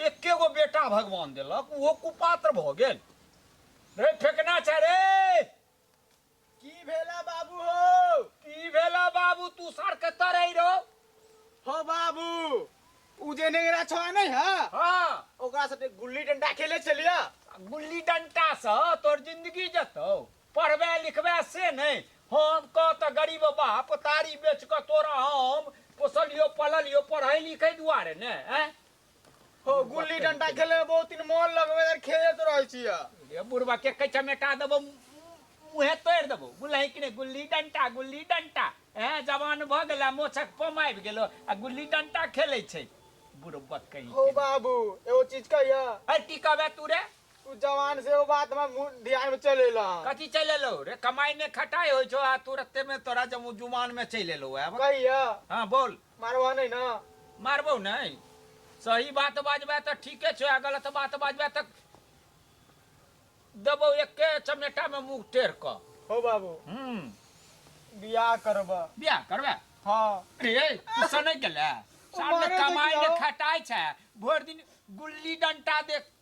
एके गो बेटा भगवान देलक ओहो कुपात्र भऽ गेल रे फेकना छै रे की भेला बाबू हो की भेला बाबू तू सर कतऽ रही रहो हो बाबू उ जे नेंगरा छवा नहीं है हाँ ओकरा साथे गुल्ली डंडा खेले छलिया गुल्ली डंटा से तोर जिंदगी जतौ पढ़बे लिखबे से नहि हम कह तऽ गरीब बाप तारी बेच कऽ तोरा हम पोसलियो पललियो पढ़ै लिखै दुआरे ने आँय? हो गुल्ली डंटा खेले में बहुत दिन मन लगवे यार खेलत रहे छी या। ये बुढ़वा के कच्चा मेटा देबो मुहे तोड़ देबो बुझलही कि ने गुल्ली डंटा गुल्ली डंटा ए जवान भ गेला मोछक पम आबि गेलो आ गुल्ली डंटा खेलै छै बुढ़वा कहीं हो के। बाबू एगो चीज कहिया अरे टिकबे तू रे तू जवान से एगो बात हमरा मुंह ध्यान में चल एला हन। कथी चलि एलौ रे कमाई ने खटाई होइ छौ आ तुरते में तोरा जब जुमान में चलि एलौ आब कहिया हाँ बोल मारवा नहीं ना मारबौ नहीं सही बात बाजबै तऽ ठीके छौ आ गलत बात बाजबै तऽ देबौ एके चमेटा में मुँह टेढ़ कऽ हो बाबू हूँ बियाह करबा बियाह करबै हाँ रे तू सनै गेलै सामने मारै कमाई देखियौ। ने खटाई छै भरि दिन गुल्ली डंटा देख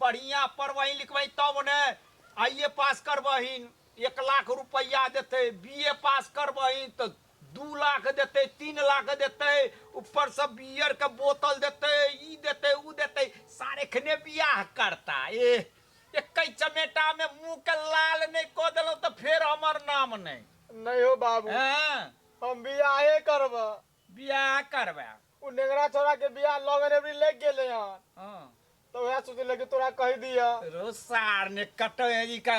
बढ़ियाँ पढ़बहिन लिखबहिन तब ने आइ ए पास करबहिन एक लाख रुपैआ देतै बी ए पास करबहिन तऽ दू लाख देतै तीन लाख देतै ऊपरसँ बियरके बोतल देतै ई देतै ओ देतै सार एखने बियाह करता एह एकै चमेटामे मुँहके लाल नहि कऽ देलहुँ तऽ फेर हमर नाम नहि नहि हो बाबू हँ हम बियाहे करबै बियाह करबै ओ नेंगरा छौड़ाके बियाह लगन एबरी लागि गेलै हन हँ तो वह सोचले कि तोरा कह दिया रो सार ने कटैनी का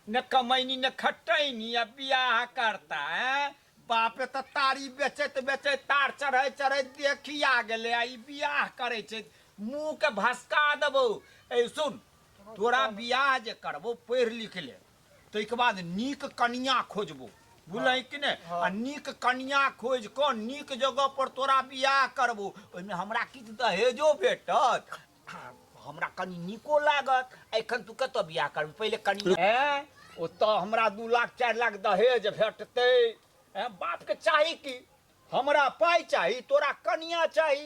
न कमैनी न खटैनी अब बियाह करता है बापे तो तारी बेचैत बेचैत तार चढ़ै चढ़ै देखी आ गेले आ ई बियाह करै छै मुंह के भसका देबो ए सुन तोरा बियाह जे करबो पढ़ लिख ले ताहिके बाद नीक कनिया खोजबो बुझल कि ने आ नीक कनिया खोज कऽ नीक जगह पर तोरा बियाह करबो ओहिमे हमरा किछु दहेजो भेटत हमरा कनि नीको लागत एखन तू कतऽ बियाह करबी पहिले कनिया हैं ओतऽ हमरा दू लाख चारि लाख दहेज भेटतै हैं बापके चाही कि हमरा पाइ चाही तोरा कनिया चाही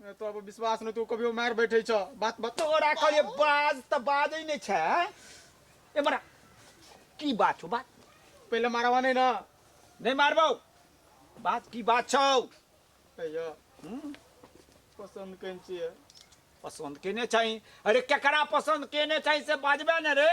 तो अब विश्वास नहीं तो कभी मार बैठे छ बात बात तोरा कहले बाज त बाजै नै छ एमरा की बात छौ बात पहले मारवा नहीं ना नहीं मारबौ बात की बात छौ कहियो हम्म? पसंद कन छिए पसंद केने चाहिए अरे केकरा पसंद केने चाहिए से बाजबे ने रे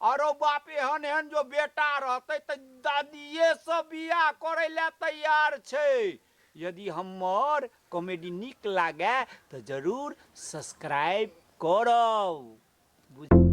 आ रौ बाप, एहन-एहन जँ बेटा रहतै तँ दादियेसँ बिआह करै लए तैयार छै। यदि हम्मर कॉमेडी नीक लागए तँ जरूर सब्सक्राइब करब। बुझल?